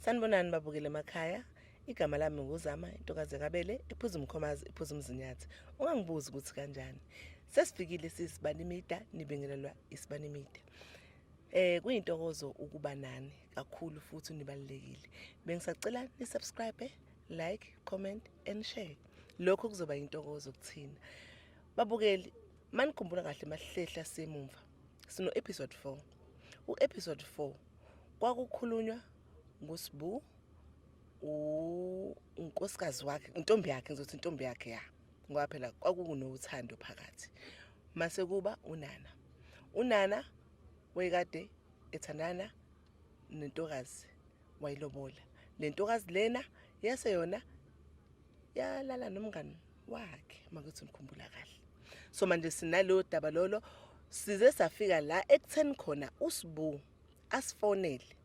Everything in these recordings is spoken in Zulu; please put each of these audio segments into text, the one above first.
sanibonani babukele emakhaya igama lami nguzama intokazi yakabele ephuza umkhomazi ephuza umzinyathi ungangibuzi ukuthi kanjani sesifikile sisibanimida nibingelelwa isibanimida eh kuyintokozo ukuba nani kakhulu futhi nibalekile bengisacela ni subscribe like comment and share lokho kuzoba yintokozo kuthina babukeli manikhumbula kahle masihlehla semumva Sino episode 4. U episode 4 kwakukhulunywa ngosibu unkosikazi wakhe intombi yakhe ngizothi intombi yakhe ya ngoba phela kwakunothando phakathi mase kuba unana unana wayekade ethandana nentokazi wayilobola le ntokazi lena yase yona yalala nomngani wakhe makuthi ngikhumbula kahle so manje sinaleyo daba lolo size safika la ekutheni khona usibu asifonele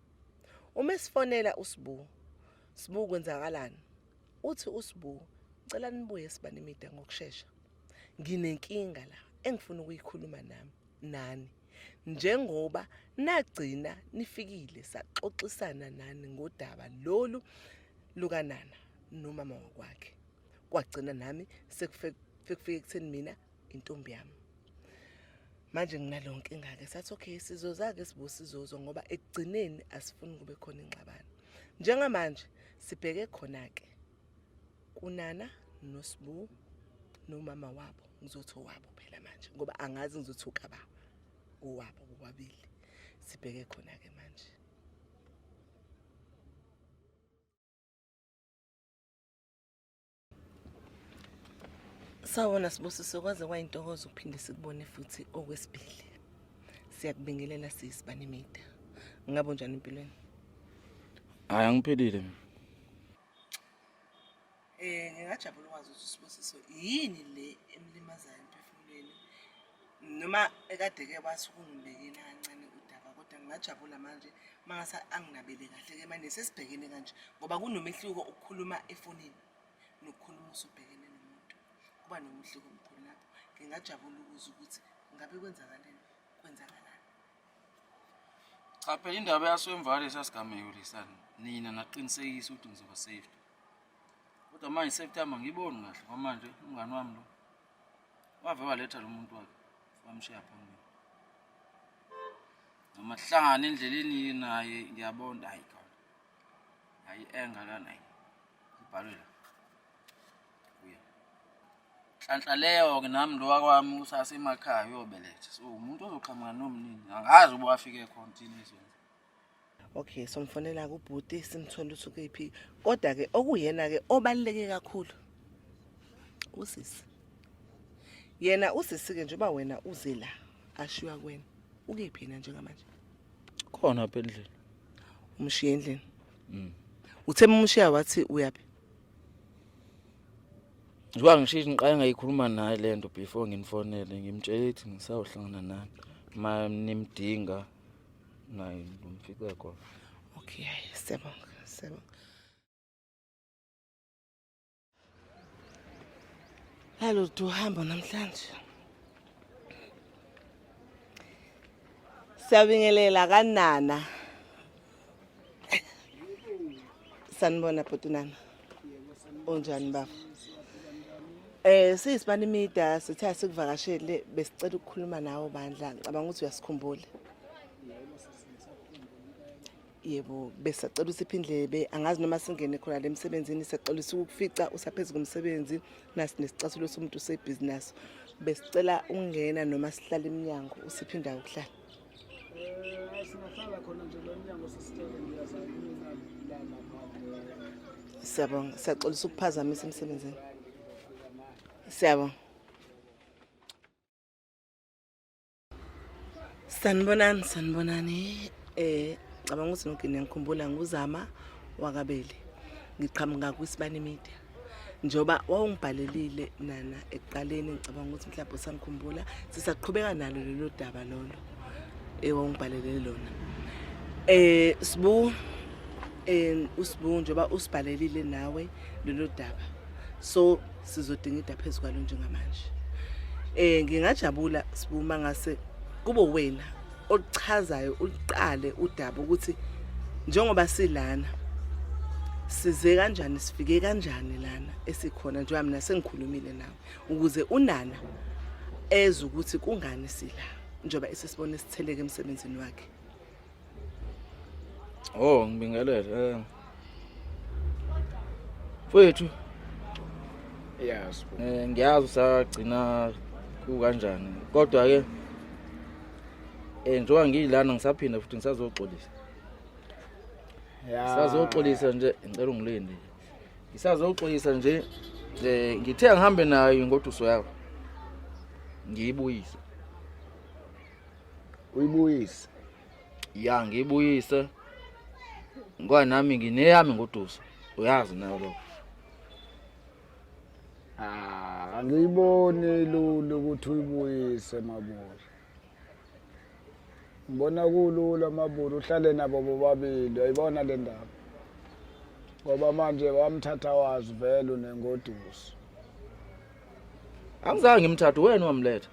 uma esifonela usibu sibu kwenzakalani uthi usibu cela nibuye sibanimida ngokushesha nginenkinga la engifuna ukuyikhuluma nami nani njengoba nagcina nifikile saxoxisana nani ngodaba lolu lukanana nomama wakwakhe kwagcina nami sekufike ekutheni mina intombi yami manje nginaleyo nkinga ke sathi okay sizozake sibo sizozo ngoba ekugcineni asifuni kube khona ingxabano njengamanje sibheke khona ke kunana noSbu nomama wabo ngizothi owabo phela manje ngoba angazi ngizothi ukaba owabo bobabili sibheke khona ke manje Sawona sibusiso kwaze kwayintokozo ukuphinde sikubone futhi okwesibili siyakubingelela sisi banemida ngabe unjani empilweni hayi angiphelile mina Eh ngingajabula ukwazi ukuthi usibusiso yini le emlimazayo emphefumulweni noma ekade ke wathi ukungibekela kancane udaba kodwa ngingajabula manje mangase anginabele kahle ke manje sesibhekene kanje ngoba kunomehluko ukukhuluma efonini nokukhuluma usubhekene nomuntu kuba nomehluko omkhulu lapho ngingajabula ukuza ukuthi ngabe kwenzakaleni kwenzakalani Cha phela indaba yaswemvale sasigameko lesani. Nina naqinisekisa ukuthi ngizoba safe. Kodwa manje safety yami ngiboni kahle ngoba manje umngani wami lo wave waletha lo muntu wakhe wamshiya phambili. Noma hlangana endleleni naye ngiyabona hayi khona. Hayi enga lana. Ibhalwe la. nhlanhla leyo-ke nami lo wakwami usasemakhaya uyobeletha so umuntu ozoqhamuka nomnini angazi uba wafike khona thina izweni okay somfonela kubhuti simthole ukuthi ukephi kodwa-ke okuyena-ke obaluleke kakhulu usisi yena usisi-ke njengoba wena uze la ashiywa kwena ukephi yena njengamanje khona apha endlini umshiye endlini mm. uthe mumushiya wathi uyaphi njengoba ngishishi ngiqale ngayikhuluma naye le nto before nginifonele ngimtshele ukuthi ngisawuhlangana nani ma nimdinga naye ngimfice khona okay siyabonga siyabonga Hello, du hamba namhlanje. Siyabingelela kanana. sanibona bhutunana unjani baba eh siyisibani media sithe asikuvakashele besicela ukukhuluma nawe bandla ngicabanga ukuthi uyasikhumbula yebo besacela usiphi indlebe angazi noma singene khona le msebenzini sacela ukufica usaphezu komsebenzi nasi nesicathulo somuntu sebusiness besicela ungena noma sihlala eminyango usiphi indawo ukuhlala Eh, singahlala khona nje lo mnyango sesitshele ngiyazama mina la lapha Siyabonga, siyaxolisa ukuphazamisa emsebenzini. Siyabonga. Sanibonani, sanibonani. Eh, cabanga ukuthi nokugcina ngikhumbula nguzama wakabeli. Ngiqhamuka kwisibani media. njengoba wawungibhalelile nana ekuqaleni ngicabanga ukuthi mhlawumbe usangikhumbula sisaqhubeka nalo lelo daba lolo ewawungibhalelele lona eh sibu eh usibu njengoba usibhalelile nawe lelo daba so sizodinga idaba phezu kwalo njengamanje eh ngingajabula sibu mangase kube wena oluchazayo uliqale udaba ukuthi njengoba silana size kanjani sifike kanjani lana esikhona njengoba mina sengikhulumile nawe ukuze unana ezwe ukuthi kungani sila njengoba esesibona isitheleke emsebenzini wakhe Oh ngibingelele eh Mfowethu. Yes. Eh ngiyazi usagcina kukanjani. Kodwa ke eh njengoba ngiyilana ngisaphinda futhi ngisazoxolisa. Yeah. Sazoxolisa nje ngicela ungilinde. Ngisazoxolisa nje eh ngithe ngihambe nayo ingoduso yakho. Ngiyibuyise. Uyibuyise. ya ngibuyise ngoba nami ngineyami ngoduso uyazi nayo lokho ah angiyiboni lula ukuthi uyibuyise mabona ngibona kulula mabona uhlale nabo bobabili ayibona le ndaba ngoba manje wamthatha wazi vele unengoduso angizange ngimthathe wena wamletha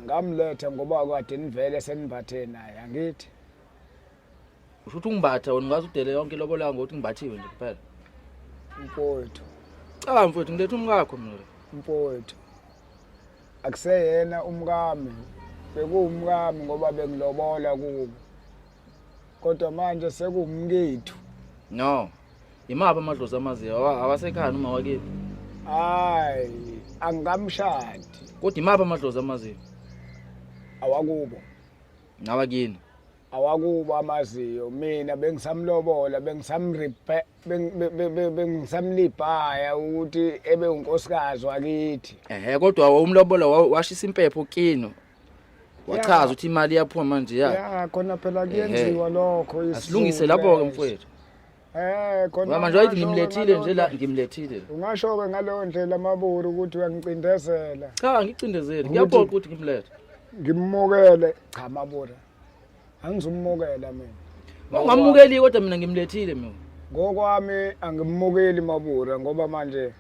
ngamletha ngoba kade nivele senimbathe naye angithi usho ukuthi ungimbatha wena ungaze udele yonke ilobola yangu ukuthi ngimbathiwe nje kuphela mfowethu caba mfowethu ngiletha umkakho mina mfowethu akuseyena umkami bekuwumkami ngoba bengilobola kubo kodwa manje sekumkethu no imaphi amadlozi amaziyo Awa- awasekhaya noma wakephi hayi angikamshadi kodwa imaphi amadlozi amaziyo awakubo nawakini awakubo amaziyo mina bengisamlobola bengisamripe beng- be- be- be- bengisamlibhaya ukuthi ebe unkosikazi wakithi ehe kodwa wawumlobola wa- washisa impepho kino wachaza ukuthi imali iyaphuma manje ya ya khona phela kuyenziwa lokho asilungise lapho-ke mfowethu Eh khona manje wayithi ngimlethile nje la ngimlethile. Ungasho ke ngaleyo ndlela amaburu ukuthi uyangicindezela. Cha angicindezeli ngiyabona ukuthi ngimlethe. Ngimukele cha mabura. Angizumukela mina. Ungamukeli kodwa mina ngimlethile mina. Ngokwami angimukeli mabura ngoba manje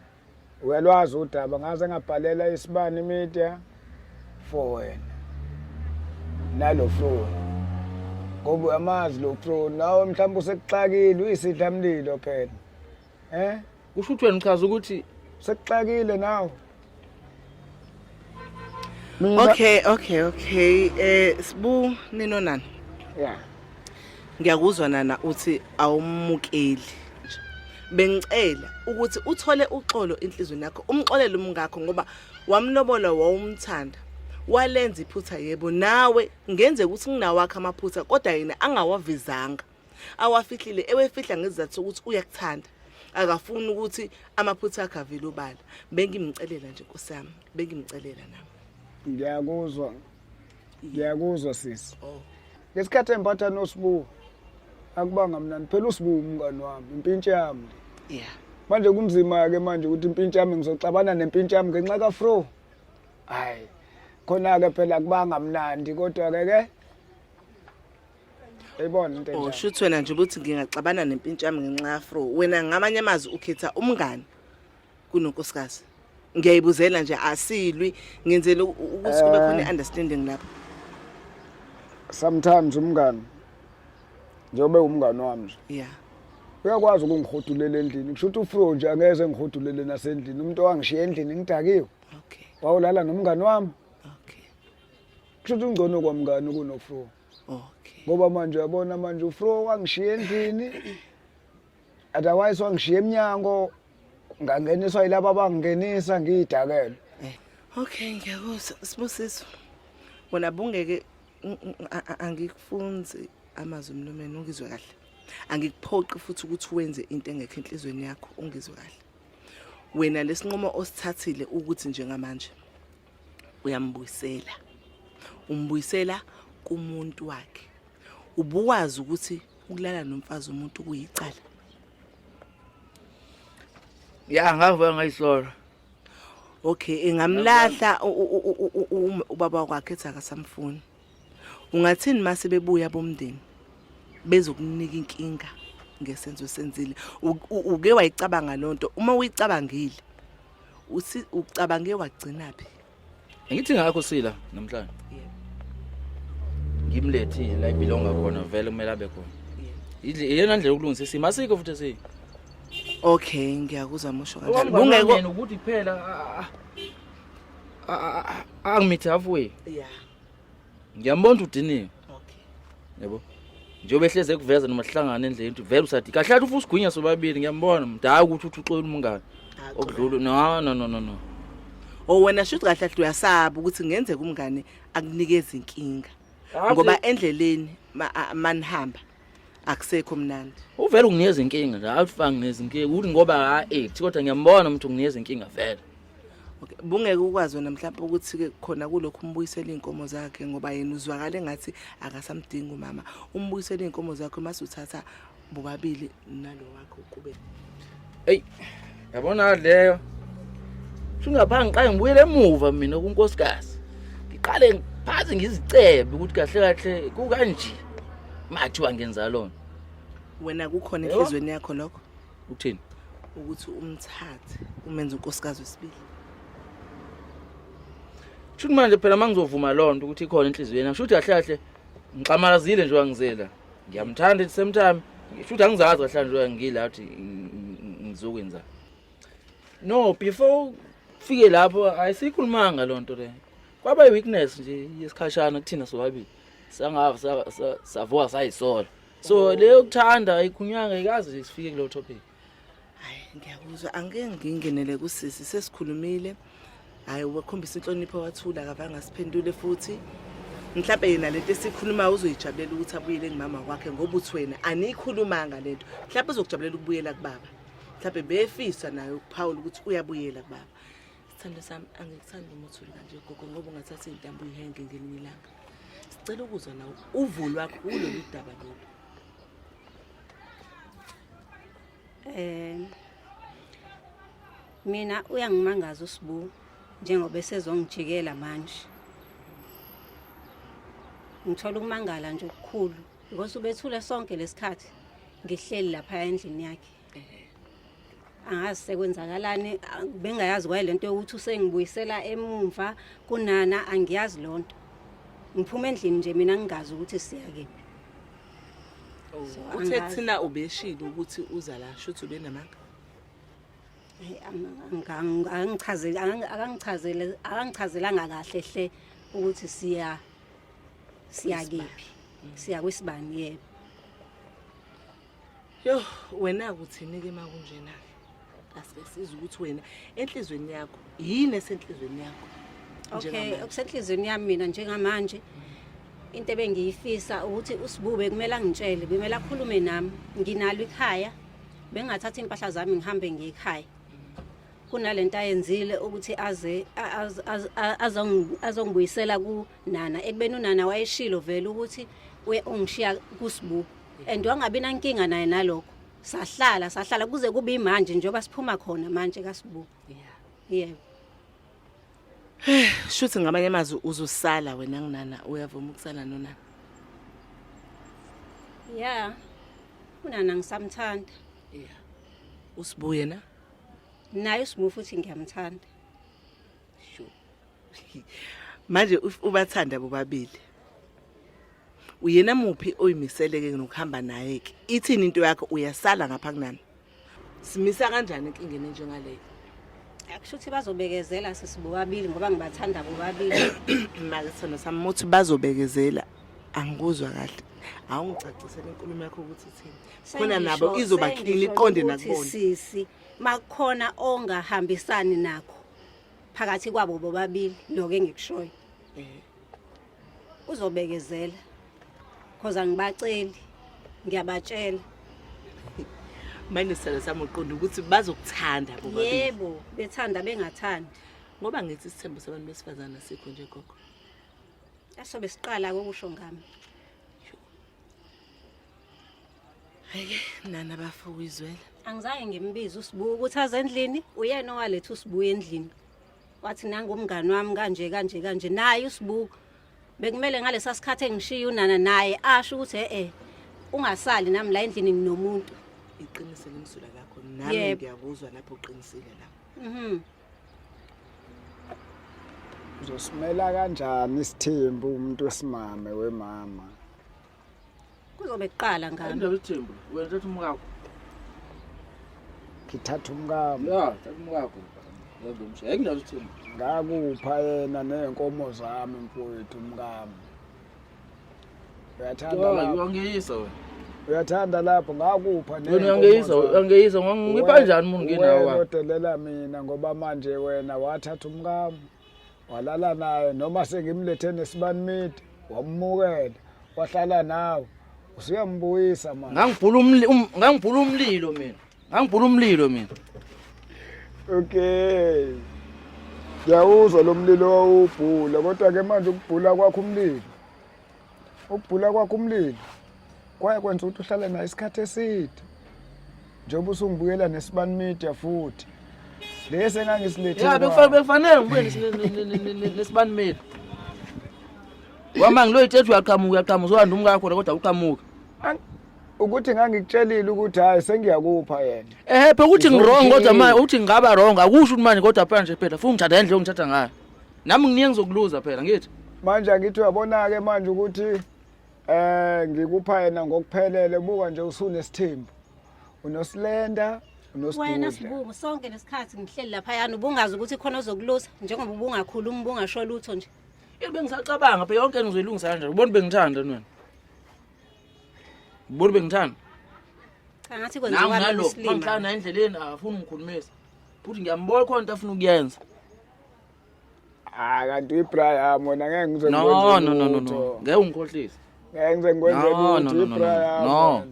uyalwazi udaba ngaze ngabhalela isibani media for wena nalo flow ngoba uyamazi lo flow nawe mhlawumbe usekuxakile uyisidlamlilo phela eh usho ukuthi wena uchaza ukuthi sekuxakile nawe Mina Okay, okay, okay. Eh Sbu nino nani? yeah. Ngiyakuzwa nana uthi awumukeli. Bengicela ukuthi uthole uxolo enhlizweni yakho, umxolele umngakho ngoba wamlobola wawumthanda. Walenza iphutha yebo nawe ngenze ukuthi nginawakhe amaphutha kodwa yena angawavezanga. awafihlile ewefihla ngezizathu sokuthi uyakuthanda akafuni ukuthi amaphutha akhe avele obala bengimcelela nje nkosi yami bengimcelela nami ngiyakuzwa ngiyakuzwa sisi oh. ngesikhathi emphatha nosibuwo akubanga mnani phela usibuwo umngane wami impintsha yami yeah manje kunzima-ke manje ukuthi impintsha yami ngizoxabana nempintsha yami ngenxa kafro hhayi khona-ke phela kubanga mnandi kodwa-ke ke Uyibona into enjalo. Usho ukuthi wena nje ukuthi ngingaxabana nempintsha yami ngenxa yafro. Wena ngamanye amazwi ukhetha umngani kunonkosikazi. Ngiyayibuzela nje asilwi ngenzele u- ukuthi kube khona Eh. i-understanding lapho. Sometimes umngani njengoba ewumngani wami nje. Yeah. Uyakwazi ukungihodulela endlini. Kusho ukuthi uFro nje angeze ngihudulele nasendlini. Umuntu owangishiya endlini ngidakiwe. Okay. Wawulala nomngani wami. Okay. Kusho ukuthi ungcono kwamngani kunoFro. okay ngoba manje uyabona manje ufro wangishiya endlini otherwise wangishiya emnyango ngangeniswa yilabo abangingenisa ngiyidakelwe eh, okay ngiyakuzwa sibusiso wona bungeke angikufunzi amazwi mlomeni ungizwe kahle angikuphoqi futhi ukuthi wenze into engekho enhlizweni yakho ungizwe kahle wena lesinqumo osithathile ukuthi njengamanje uyambuyisela umbuyisela kumuntu wakhe ubuwazi ukuthi ukulala nomfazi umuntu kuyicala ya ngavuka ngayisola okay ingamlahla ubaba wakhe ethi akasamfuni ungathini uma sebebuya bomndeni bezokunika inkinga ngesenzo esenzile uke wayicabanga loo nto uma uyicabangile uthi ucabange wagcina phi ngithi ngakho sila namhlanje ngimlethile la ibhilonga khona vele kumele abe khona yidle iyona ndlela yokulungisa isimo asikho futhi si okay ngiyakuzwa musho kanjalo kungeko ukuthi kuphela angimithi halfway yeah ngiyambona ukuthi udiniwe okay yebo njengoba ehlezi ekuveza noma sihlangane endleni ukuthi vele usathi kahle athi ufusa ugwinya sobabili ngiyambona mdala ukuthi uthi uxola umngane okudlula no no no no no o wena shuthi kahle athi uyasaba ukuthi kungenzeka umngane akunikeza inkinga ngoba endleleni manihamba akusekho mnandi uvela unginikeza inkinga nje awufanga nginikeza inkinga ukuthi ngoba ha ethi kodwa ngiyambona umuntu unginikeza inkinga vele Okay, bungeke ukwazi wena mhlawumbe ukuthi ke khona kulokhu umbuyisela izinkomo zakhe ngoba yena uzwakala engathi akasamdingi umama. Umbuyisela izinkomo zakhe mase uthatha bobabili nalo wakho kube. eyi yabona leyo shungapha ngiqale ngibuyele emuva mina kunkosikazi ngiqale ngiphaze ngizicebe ukuthi kahle kahle kukanje mathiwa ngenza lona wena kukhona enhliziyweni yakho lokho ukuthini ukuthi umthathe umenze unkosikazi wesibili shuthi manje phela uma ngizovuma loo nto ukuthi ikhona enhliziyweni yami shuthi kahle kahle ngixamalazile nje wangizela ngiyamthanda at the same time shuthi angizazi kahle nje ngila ukuthi ngizokwenza no before fike lapho ayisikhulumanga lonto le kwaba iweakness nje yesikhashana kuthina sobabili sangava savuka sayisola so leyo kuthanda ayikhunywanga ikaze sifike kulo topic hayi ngiyakuzwa angike ngingenele kusisi sesikhulumile hayi wakhombisa inhlonipho wathula akavanga siphendule futhi mhlawumbe yena lento esikhuluma uzoyijabulela ukuthi abuyele kumama wakhe ngoba uthi wena aniyikhulumanga lento mhlawumbe uzokujabulela ukubuyela kubaba mhlawumbe befisa naye ukuphawula ukuthi uyabuyela kubaba sithando sami angikuthandi uma uthule kanje gogo ngoba ungathatha iy'ntambo uyihenge ngelinye ilanga sicela ukuzwa nawo uvo lwakho kulolu daba lolu eh mina uyangimangaza usibu njengoba esezongijikela manje ngithola ukumangala nje okukhulu because ubethule sonke lesikhathi ngihleli lapha endlini yakhe angazi sekwenzakalani bengayazi kwaye lento yokuthi usengibuyisela emumva kunana angiyazi lonto ngiphuma endlini nje mina ngingazi ukuthi siya kephi Oh, uthe thina ubeshilo ukuthi uza la shuthi ubenamanga angichazeli akangichazele akangichazelanga kahle hle ukuthi siya siya kephi mm. siya kwisibani yebo yo wena kuthini ke makunjena asike sizwe ukuthi wena enhlizweni yakho yini esenhlizweni yakho okay okusenhlizweni yami mina njengamanje into ebengiyifisa ukuthi usibube kumele angitshele kumele akhulume nami nginalo ikhaya bengathatha impahla zami ngihambe ngiyikhaya kunalento ayenzile ukuthi aze azongibuyisela kunana ekubeni unana wayeshilo vele ukuthi ungishiya kusibuku and wangabi nankinga naye nalokho sahlala sahlala kuze kube imanje njengoba siphuma khona manje kasibu yeah yebo shuthi ngamanye amazwi uzosala wena nginana uyavuma ukusala nona yeah unana ngisamthanda yeah usibuye na naye usibu futhi ngiyamthanda manje ubathanda bobabili uyena muphi oyimiseleke nokuhamba naye ke ithini into yakho uyasala ngapha kunana simisa kanjani inkingeni njengaleyo akusho ukuthi bazobekezela sisibobabili ngoba ngibathanda bobabili make sona samuthi bazobekezela angikuzwa kahle awungicacisele inkulumo yakho ukuthi ithini khona nabo izoba clean iqonde nakubona sisi makukhona ongahambisani nakho phakathi kwabo bobabili lokho engikushoyo eh. uzobekezela cause angibaceli ngiyabatshela manje sala sami uqonda ukuthi bazokuthanda bobabili yebo bethanda bengathandi ngoba ngithi isithembu sabantu besifazana sikho nje gogo asobe siqala kokusho ngami Hayi nana bafo uyizwela. Angizange ngimbize usibuya ukuthi aze endlini, uyena owaletha usibuya endlini. Wathi nangu umngani wami kanje kanje kanje naye usibuya. Bekumele ngalesa sikhathi engishiya unana naye asho ukuthi eh eh ungasali nami la endlini nginomuntu. Iqinise lemsula lakho nami Yebo. ngiyakuzwa lapho uqinisile la. Mhm. Uzosimela kanjani isithembu umuntu wesimame wemama? kuzobe kuqala ngami indaba ethembu wena thatha umkakho ngithatha umkami ya thatha umkakho yabomsha yayindaba ethembu ngakupha yena nezinkomo zami mfowethu umkami uyathanda lapho uyangiyisa wena uyathanda lapho ngakupha wena uyangiyisa uyangiyisa ngipha njani umuntu nginawa wena odelela mina ngoba manje wena wathatha umkami walala naye noma sengimlethe nesibani midi wamumukela wahlala nawe usuyambuyisa manje ngangibhula umli um- ngangibhula umlilo mina ngangibhula umlilo mina okay ngiyawuzwa lo mlilo wawubhula kodwa-ke manje ukubhula kwakho umlilo Ukubhula kwakho umlilo kwaye kwenza ukuthi uhlale naye isikhathi eside njengoba usungibuyela nesibani media futhi lesi engangisilethe ya bekufanele ngibuye nesibani media wama ngiloyithetha uyaqhamuka uyaqhamuka uzowanda umkakho kodwa uqhamuka ukuthi ngangikutshelile ukuthi hayi sengiyakupha yena ehephe ukuthi ngirong kodwa manje ukuthi ngingaba rong akusho ukuthi manje kodwa phela nje phela futhi ngithanda endlela ongithatha ngayo nami nginingi ngizokuluza phela ngithi manje angithi uyabona-ke manje ukuthi um ngikupha yena ngokuphelele buka nje usunesithembu unosilenda wena sibuku sonke lesikhathi ngihleli laphayana ubungazi ukuthi khona ozokulusa njengoba ubungakhulumi ubungasho lutho nje yini bengisacabanga phe yonke ngizoyilungisa kanjani ubona bengithanda wena ubona bengithanda cha ngathi kwenziwa nalo mhlana endleleni afuna ungikhulumisa futhi ngiyambona khona into afuna ukuyenza Ah kanti uyibraya mona ngeke ngize no no no no no ngeke ungikhohlise ngeke ngize ngikwenze lutho uyibraya no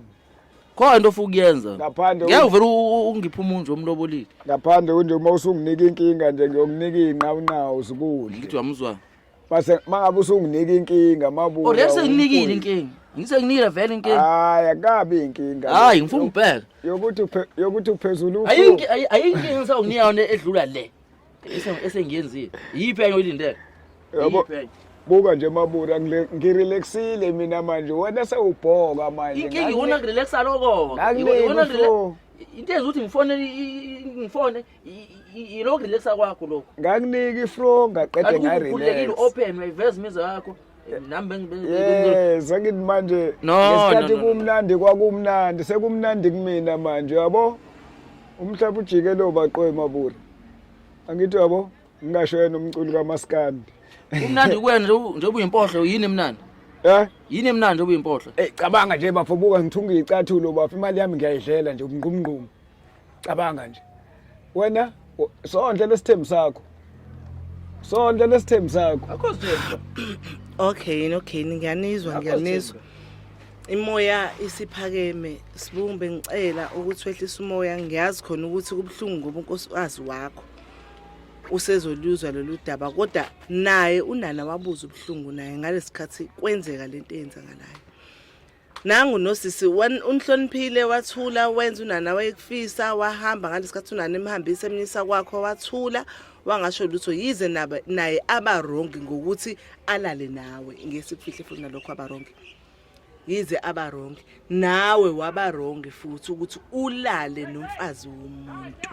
khona into ofuka ukuyenza ngaphandle ngeke uvele ungipha umuntu omlobolile ngaphandle kunje uma usunginika inkinga nje ngiyokunika inqa unawo usukudle ngithi wamuzwa base mangabe usunginika inkinga mabuya oh lese nginikile inkinga ngise nginikile vele inkinga hayi akabi inkinga hayi ngifuna ubheka yokuthi yokuthi uphezulu ayinkinga ayinkinga ngisawukunika yona edlula le esengiyenzile yiphi enye oyilindele buka nje mabura ngirelaxile mina manje wena sewubhoka manje inkinga iwona ngirelaxa lokho into enza ukuthi ngifone ngifone yilokho relaxa kwakho lokho ngakuniki ifro ngaqede ngarelaxa open uyiveza imizwa yakho nami yes angithi manje ngesikhathi kumnandi kwakumnandi sekumnandi kumina manje yabo umhlaba ujike lo baqoe mabura angithi yabo ngingasho yena umculi kamaskandi kumnandi kuwena njengoba uyimpohlo yini emnandi Eh? Yini emnandi obuyimpohlo? Eh cabanga nje bafo buka ngithunga icathulo bafo imali yami ngiyayidlela nje umngqumngqumu. cabanga nje wena sondle lesithembu sakho sondle lesithembu sakho akho sithembu okay okay ngiyanizwa ngiyanizwa imoya isiphakeme sibumbe ngicela ukuthi wehlisa umoya ngiyazi khona ukuthi kubuhlungu ngoba unkosikazi wakho usezoluzwa lolu daba kodwa naye unana wabuza ubuhlungu naye ngalesikhathi kwenzeka lento eyenzakalayo nangu nosisi unihloniphile wathula wenza unana wayekufisa wahamba ngalesikhathi unana emhambisa emnyisa kwakho wathula wangasho lutho yize naye abarongi ngokuthi alale nawe ngesikufihle futhi nalokho abarongi yize abarongi nawe wabarongi futhi ukuthi ulale nomfazi womuntu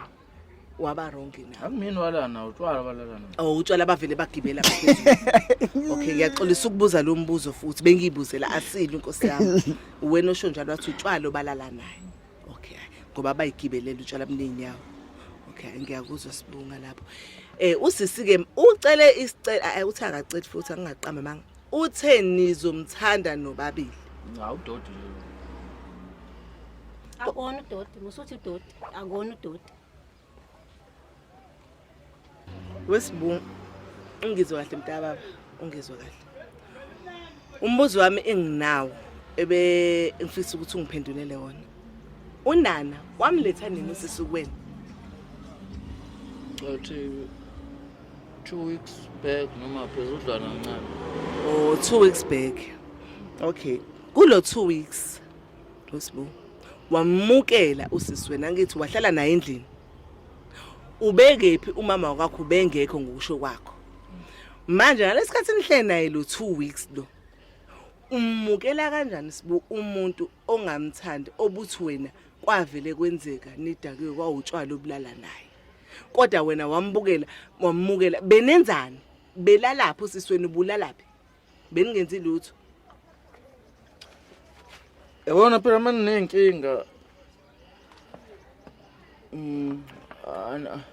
waba wrong na akumini walana utshwala balalana oh utshwala bavele bagibela phezulu okay ngiyaxolisa ukubuza lo mbuzo futhi bengiyibuzela asile inkosi yami wena osho njalo wathi utshwala obalala naye okay ngoba bayigibelela utshwala mningi yawo okay ngiyakuzwa sibunga lapho eh usisi ke ucele isicela eh, uthi akaceli futhi angingaqamba manga uthe nizomthanda nobabili cha udodi akona udodi musuthi udodi akona udoti wesibungu ungizwe kahle mntababa ungizwe kahle umbuzo wami enginawo ebe ngifisa ukuthi ungiphendulele wona unana wamletha nini usisukweni uthi two weeks back noma phezudlwana ncane oh two weeks back okay kulo two weeks Losbo wamukela usisi wena ngithi wahlala naye endlini ubekephi umama wakho bengekho ngokusho kwakho manje ngalesikhathi nihlele naye lo 2 weeks lo umukela kanjani sibu umuntu ongamthandi obuthi wena kwavele kwenzeka nidakiwe kwawutshwala obulala naye kodwa wena wambukela wamukela benenzani belalaphi usisweni bulalaphi Beningenzi lutho. Yabona phela manje nenkinga. Mm ana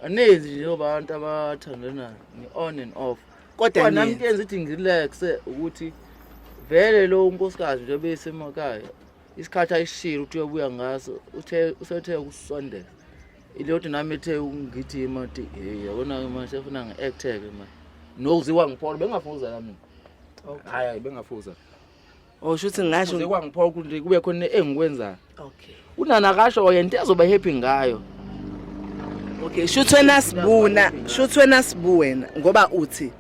anezi nje abantu abathandana ni on and off. Kodwa nami kuyenza ukuthi ngirelax ukuthi vele lo unkosikazi nje besemakhaya isikhathi ayishilo uthi uyobuya ngaso uthe usethe ukusondela iloti nami ethe ungithi mati hey yabona ke manje efuna ngi-acte ke manje nokuziwa ngiphola bengafuza la mina hayi hayi bengafuza Oh shuthi ngasho kuze kwangiphola ukuthi kube khona engikwenzayo. Okay. Unana kasho oh, yena ezoba happy ngayo. Okay, shuthi wena sibuna, shuthi wena sibu wena ngoba uthi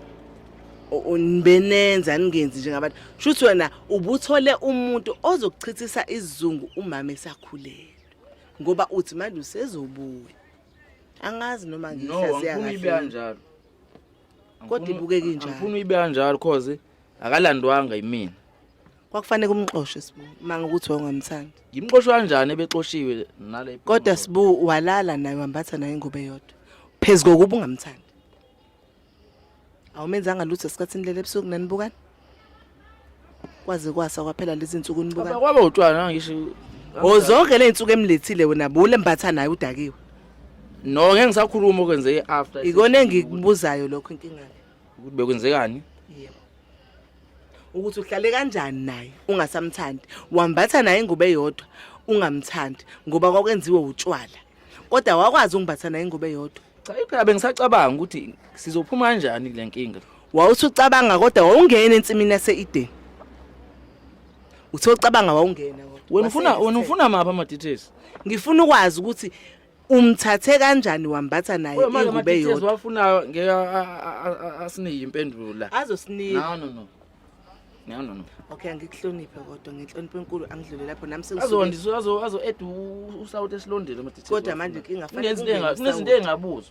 nibenenza ningenzi njengabantu. Shuthi wena ubuthole umuntu ozokuchithisa izungu umama esakhulele. ngoba uthi manje usezobuya angazi noma ngihlaziya kahle no ngifuna ibe kanjalo kodwa ibukeke njalo ngifuna ibe kanjalo cause akalandwanga yimina kwakufanele kumxoshe sibu manga ukuthi wawungamthandi ngimxoshe kanjani ebexoshiwe nale kodwa sibu walala naye wambatha naye ingobe yodwa phezu kokuba ungamthandi awumenzanga lutho esikhathini leli ebusuku nanibukani kwaze kwasa kwaphela lezi nsuku nibukani kwaba utshwala ngisho ozonke le nsuku emlethile wena bule mbatha naye udakiwe no ngeke ngisakhuluma okwenzeke after ikona engikubuzayo lokho inkinga ukuthi bekwenzekani yebo ukuthi uhlale kanjani naye ungasamthandi wambatha naye ingubo eyodwa ungamthandi ngoba kwakwenziwe utshwala kodwa wakwazi ungibatha naye ingubo eyodwa cha phela bengisacabanga ukuthi sizophuma kanjani kule nkinga wawuthi ucabanga kodwa wawungena ensimini yase-edeni uthe ucabanga wawungena wena ufuna wena ufuna maphi ama-details ngifuna ukwazi ukuthi umthathe kanjani wambatha naye ingube yodwa wafunayo ngeke asinika impendulo la azosinika no no no No no no. Okay angikuhloniphe kodwa ngenhlonipho enkulu angidlule lapho nami sengisuke. Azondisa azo azo ed usawut esilondile ama details. Kodwa manje inkinga fanele kungenwe. Kunezinto engabuzo.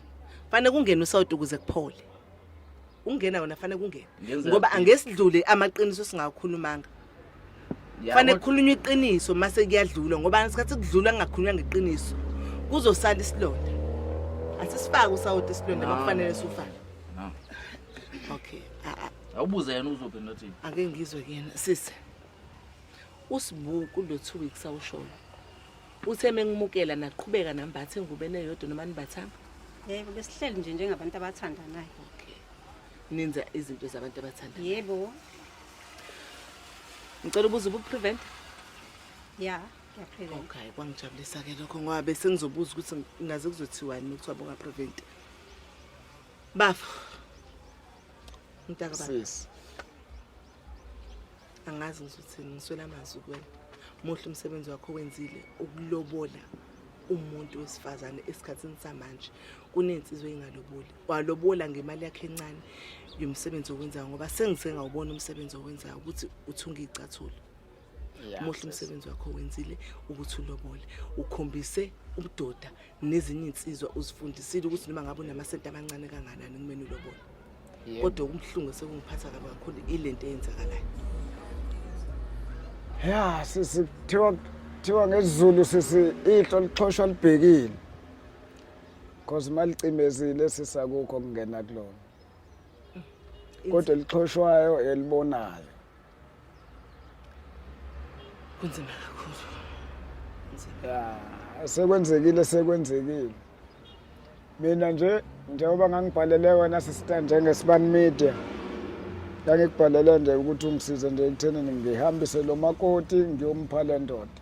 Fanele kungenwe usawut ukuze kuphole. Ungena wona fanele kungene. Ngoba angesidlule amaqiniso singakhulumanga. Fanele kukhulunywe iqiniso mase kuyadlula ngoba isikhathi kudlula kungakhulunywa ngeqiniso. Kuzosala isilonda. Asisifaki usawut isilonda makufanele sufake. okay awubuze yena uzophendula thini ake ngizwe kuyena sisi usibuku lo two weeks awushona uthe mengimukela naqhubeka nambathe engubeni eyodwa noma nibathanga yebo besihleli nje njengabantu abathandanayo okay ninza izinto zabantu abathandanayo yebo ngicela ubuza ubuprevent ya ngiyaprevent okay kwangijabulisa-ke lokho ngoba bese ngizobuza ukuthi ngaze kuzothiwani uma kuthiwa bungapreventi Bafo. Mntaka baba. Sisi. Angazi ngisuthini ngiswela amazwi kuwena. Muhle umsebenzi wakho wenzile ukulobola umuntu wesifazane esikhatsini samanje kunensizwe engaloboli walobola ngemali yakhe encane yomsebenzi owenzayo ngoba sengisengawubona umsebenzi owenzayo ukuthi uthunga icathulo muhle umsebenzi wakho wenzile ukuthi ulobole ukhombise ubudoda nezinye insizwa uzifundisile ukuthi noma ngabe unamasenti amancane kanganani kumele ulobole kodwa ubuhlungu sekungiphatha kabi kakhulu ilento eyenzakalayo ya sisi kuthiwa kuthiwa ngesizulu sisi ihlo lixhoshwa libhekile cause malicimezile sisakukho kungena kulona kodwa elixhoshwayo elibonayo kunzima kakhulu ya sekwenzekile sekwenzekile mina nje njengoba ngangibhalele wena sister njengesibani media ngangikubhalele nje ukuthi ungisize nje ekuthenini ngihambise lo makoti ngiyompha le ndoda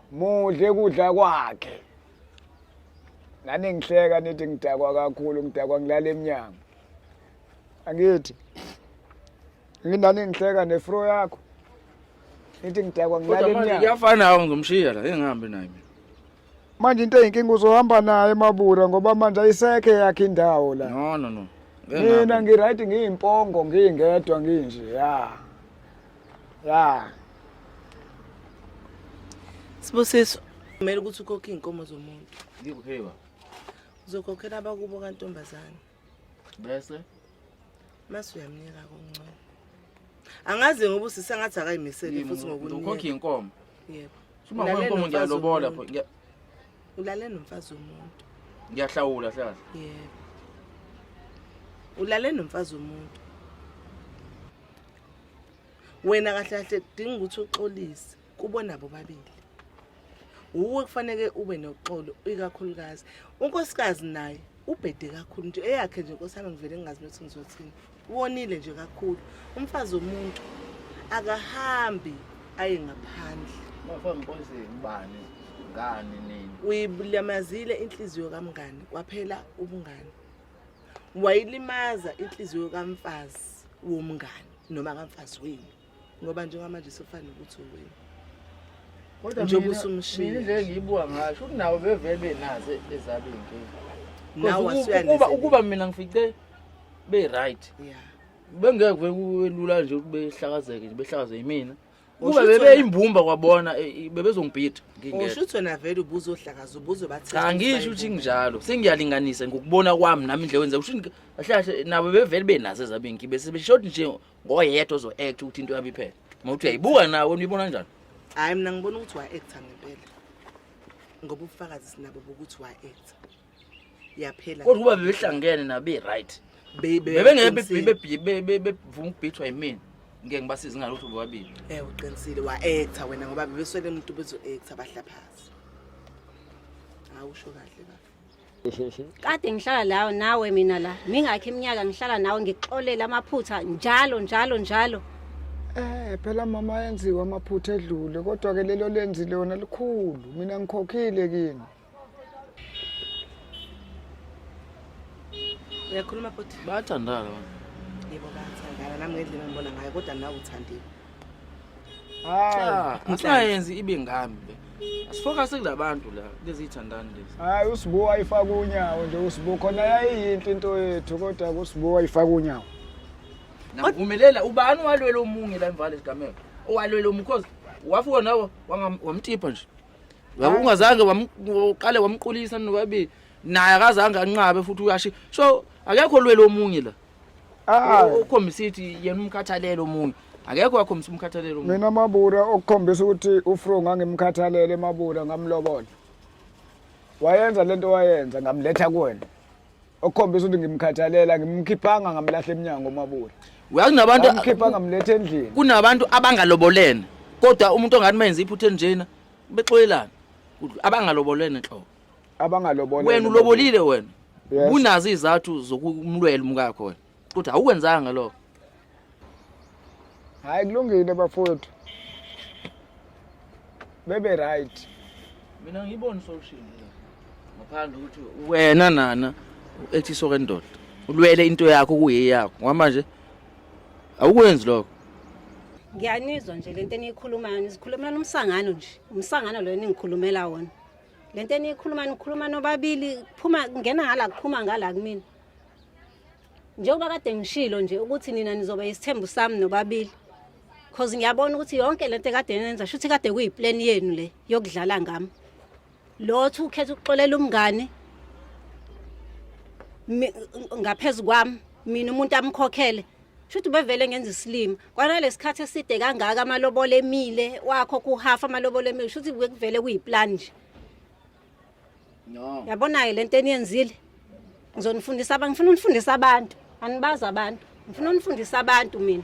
mudle kudla kwakhe nani ngihleka nithi ngidakwa kakhulu ngidakwa ngilala emnyango angithi ngindani ngihleka nefro yakho nithi ngidakwa ngilala emnyango kuyafana awu ngizomshiya la engihambi naye mina manje into eyinkinga uzohamba naye emabura ngoba manje ayisekhe yakhe indawo la no no no mina ngiright ngiyimpongo ngiyingedwa nginje ya ya sibusiso kumele ukuthi ukhokhe iy'nkomo zomuntu ngikuphiwa uzokhokhela abakubo kantombazane bese mase uyamnika koncane angazi ngoba usise ngathi akayimisele futhi ngokukhokha iy'nkomo yebo uma kwenkomo ngiyalobola pho ulale nomfazi womuntu ngiyahlawula hlala yebo ulale nomfazi womuntu wena kahle kahle kudinga ukuthi uxolise kubona bobabili wuwe kufanele ube noxolo ikakhulukazi unkosikazi naye ubhede kakhulu nje eyakhe nje nkosana ngivele ngingazi ukuthi ngizothini wonile nje kakhulu umfazi womuntu akahambi aye ngaphandle uyibulamazile inhliziyo kamngani kwaphela ubungani wayilimaza inhliziyo kamfazi womngani noma kamfazi wenu ngoba njengamanje sofana ukuthi uwena kodwa njengoba usumshini nje ngiyibuka ngasho kunawo bevele benaze ezaba inkinga ukuba ukuba mina ngifice be right yeah bengeke kwelula nje ukuthi behlakazeke nje behlakazwe yimina Kube bebe imbumba kwabona eh, eh, bebezongibhida ngingeke. Usho ukuthi wena vele ubuzo ohlakaza ubuzo bathi. Cha ngisho ukuthi nginjalo. Sengiyalinganisa ngokubona kwami nami indle wenza usho kahle nabo bevele benaze zabinki bese beshodi nje ngoyedwa ozo act ukuthi into yabi phela. Mawuthi uyayibuka nawe unibona kanjani? Hayi mina ngibona ukuthi wa act ngempela. Ngoba ubufakazi sinabo bokuthi wa act. yaphela kodwa uba bebehlangene nabe right bebengeke ukubhithwa yimina ngeke ngibasize ngalutho bobabili eh uqinisile wa-actor wena ngoba bebeswele umuntu bezo-actor bahlaphazi hawu usho kahle kahle kade ngihlala lawo nawe mina la mingakho iminyaka ngihlala nawe ngikuxolela amaphutha njalo njalo njalo Eh phela mama yenziwa amaphutha edlule kodwa ke lelo lenzile wona likhulu mina ngikhokhile kini uyakhuluma bhuti bayathandana yebo bayathandana nami ngendlela engibona ngayo kodwa nawe uthandile hayi asingayenzi ibe ngami le asifokase kula bantu la lezi yithandani lezi hayi usibo wayifaka unyawo nje usibo khona yayiyinhle into yethu kodwa kusibo wayifaka unyawo navumelela ubani walwela omunye la emvale sigameko owalwela umkhozi wafuka nawo wamtipha nje Yabo ungazange wamqale wamqulisa nobabili. Naye akazange anqabe futhi uyashi. So akekho lwelo omunye la. Ah, ukhombisa ithi yena umkhathalelo omunye. Akekho wakhombisa umkhathalelo omunye. Mina mabura okukhombisa ukuthi uFro ngangimkhathalele mabura ngamlobola. Wayenza lento wayenza ngamletha kuwena. okukhombisa ukuthi ngimkhathalela ngimkhiphanga ngamlahla emnyango omabura uyakunabantu amkhipha ngamletha endlini kunabantu abangalobolene kodwa umuntu ongathi menze iphutha enjena bexoyelana abangalobolene nhlobo abangalobolene wena ulobolile wena unazo izathu zokumlwela umkakho wena Uthi awukwenzanga lokho. Hayi kulungile bafowethu. Bebe right. Mina ngibona solution la. Ngaphandle ukuthi wena nana ethi soke ndoda. Ulwele into yakho kuyeyakho. Ngama nje awukwenzi lokho. Ngiyanizwa nje lento eniyikhulumayo nizikhulumela umsangano nje. Umsangano lo ningikhulumela wona. Lento eniyikhuluma nikhuluma nobabili kuphuma kungena ngala kuphuma ngala kumina. njengoba kade ngishilo nje ukuthi nina nizoba yisithembu sami nobabili cause ngiyabona ukuthi yonke le nto ekade nenza shuthi kade kuyiplan yenu le yokudlala ngami lothu ukhetha ukuxolela umngane ngaphezu kwami mina umuntu amkhokhele shuthi bevele ngenza isilima kwanalesikhathi eside kangaka amalobolo emile wakho kuhafa amalobolo emile shuthi bekuvele kuyiplan nje No. Yabona-ke le nto eniyenzile ngizonifundisa abantu ngifuna unifundise abantu anibazi abantu ngifuna unifundise abantu mina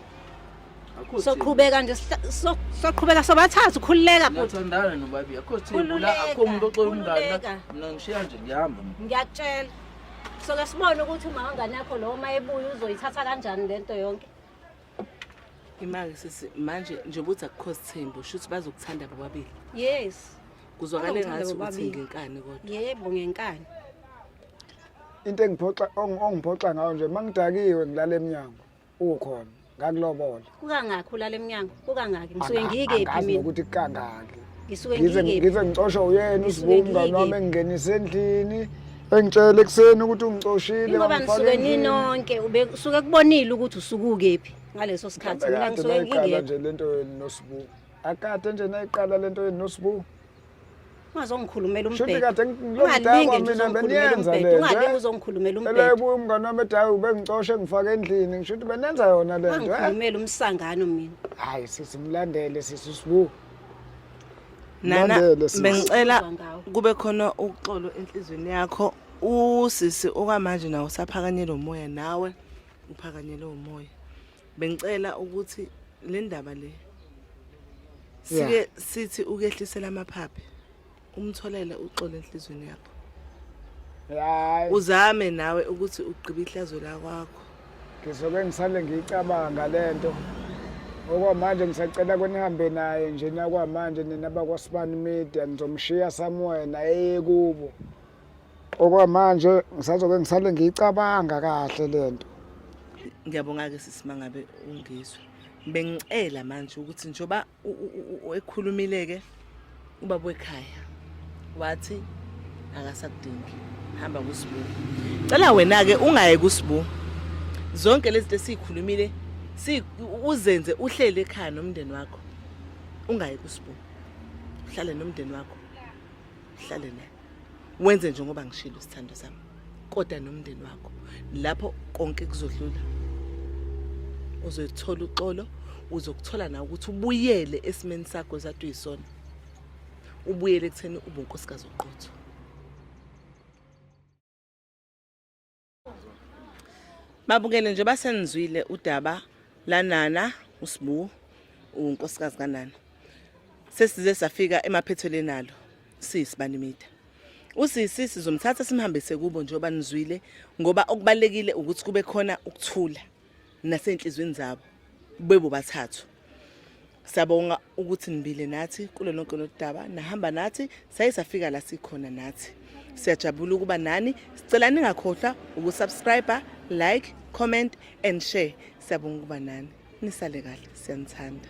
Akho soqhubeka nje sihla- so- soqhubeka sobathathu khululeka thina. bhuti Ngiyathandana nobabi. Akho thina la Khululeka, akho umuntu oxola umngane. khululeka. la. Mina ngishiya nje ngihamba. ngiyakutshela soke sibone ukuthi umawangane yakho lowo uma ebuya uzoyithatha kanjani le nto yonke Imake sisi manje nje ukuthi akukho sithembu shuthi bazokuthanda bobabili. Yes. Kuzwakala ngathi ukuthi ngenkani kodwa. Yebo ngenkani. Into engiphoxa ongiphoxa ngayo nje mangidakiwe ngilala emnyango ukhona ngakulobola. Kukangakho ulala emnyango? Kukangaki? Ngisuke ngiyike phi mina? Angazi ukuthi kukangaki. ngisuke ngize ngikephi ngize ngicosha uyena Ngisuke usibuka umngane ngiyike. wami engingenise endlini engitshela ekuseni ukuthi ungicoshile ingoba wangifaka nisuke endlini. ninonke ube suke kubonile ukuthi usukukephi ngaleso sikhathi Mhlawumbe mina kade ngisuke nayiqala ngingekho nje lento yenu nosibu akade nje nayiqala lento yenu nosibu ungazongikhulumela Shuthi umbhedo kade ngi- lo mdala ungalinge kwami nje mina uzongikhulumela bengiyenza umbhedo le nto, ungalinge eh? uzongikhulumela Ela umbhedo ebuya umngane wami edayo ubengicoshe ngifake endlini ngisho ukuthi benenza yona le nto eh? wangikhulumela umsangano mina hayi sisi mlandele sisi usibu nana bengicela kube khona uxolo enhlizweni yakho usisi okwamanje nawo usaphakanyelwe umoya nawe uphakanyelwe umoya bengicela ukuthi le ndaba le sike sithi ukehlisela amaphaphe umtholele uxolo enhlizweni yakho hayi uzame nawe ukuthi ugqibe ihlazo lakwakho ngizoke ngisale ngiyicabanga le nto okwamanje ngisacela kwenihambe naye nje nakwamanje nina bakwasibani media ngizomshiya somewhere naye eye kubo okwamanje ngisazoke ngisale ngiyicabanga kahle le nto ngiyabonga-ke sisimanga be ungizwe bengicela manje ukuthi njengoba ekhulumile-ke ubaba wekhaya wathi akasakudingi hamba kusibu cela wena-ke ungaye kusibu zonke lezi zinto esiyikhulumile uzenze uhlele ekhaya nomndeni wakho ungaye kusibu uhlale nomndeni wakho uhlale naye wenze njengoba ngishilo isithando sami kodwa nomndeni wakho lapho konke kuzodlula uzothola uxolo uzokuthola na ukuthi ubuyele esimeni sakho ezathi uyisona ubuyele ekutheni ubunkosikazi oqotho Babukele nje basenizwile udaba lanana uSbu unkosikazi kanana. Sesize safika emaphetheleni alo sisi banimida. Usisi sizomthatha simhambise kubo njengoba nizwile ngoba okubalekile ukuthi kube khona ukuthula. nasenhlizweni zabo bebo bathathu Siyabonga ukuthi nibile nathi kulo lonke lodaba nahamba nathi saye safika la sikhona nathi siyajabula ukuba nani sicela ningakhohlwa ukusubscribe like comment and share siyabonga ukuba nani nisale kahle siyanithanda